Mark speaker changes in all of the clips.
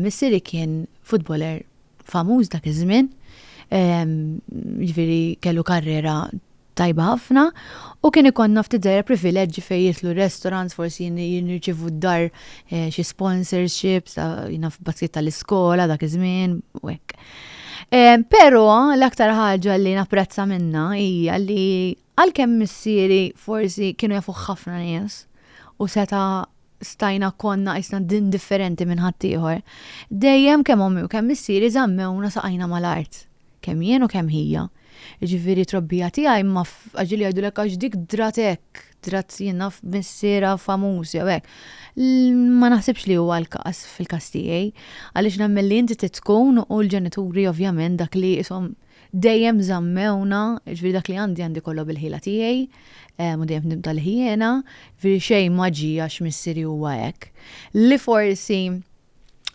Speaker 1: Missieri kien futboler famuż dak iż-żmien, jiġifieri kellu karriera tajba ħafna u kien ikollna ftit żgħira privileġġi fejn jidħlu restaurants, forsi nirċievu d-dar xi sponsorships ta' naf baskit tal-iskola dak iż-żmien u hekk. Però l-aktar ħaġa li napprezza minnha hija li Għalkemm missieri forsi kienu jafuh ħafna nies u seta' stajna konna qisna indifferenti minn ħaddieħor, dejjem kemm ommi u kemm missieri żammewna saqajna mal-art, kemm jien u kemm hija. Jiġifieri t-trobbija tiegħi ma f'għax li jgħidulek għax dik drat hekk, drat jien naf missierha famuż jew hekk. Ma naħsibx li huwa l-każ fil-każ tiegħi għaliex nemmen li inti trid tkun u l-ġenituri ovvjament dak li qishom dejjem żammewna, jiġifieri dak li għandi għandi kollu bil-ħila tiegħi, u dejjem f'dim tal-ħjiena, jiġifieri xejn ma ġie għax missieri huwa hekk, li forsi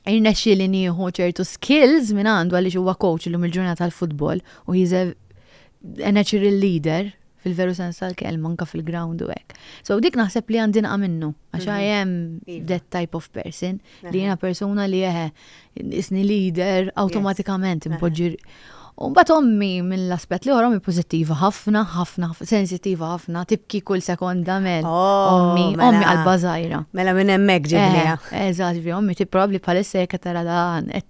Speaker 1: rnexxieli nieħu ċertu skills mingħandu għaliex huwa coach illum il-ġurnata tal-futbol u he's a natural leader fil-veru sens tal-kelma, anka fil-ground u hekk. So dik naħseb li għandi naqa' minnu, għax I mhm. am iva. that type of person, li jiena persuna li eħe, isni leader, automatikament impoġġi. U bat ommi minn l-aspet li għorom pozittiva ħafna, ħafna, sensitiva ħafna, tibki kull sekonda mel. Oh, ommi, mela. ommi għal-bazajra. Mela minn emmek ġibnija. Eh, Eżat, ommi ti
Speaker 2: probabli
Speaker 1: palissa jek tara
Speaker 2: dan,
Speaker 1: et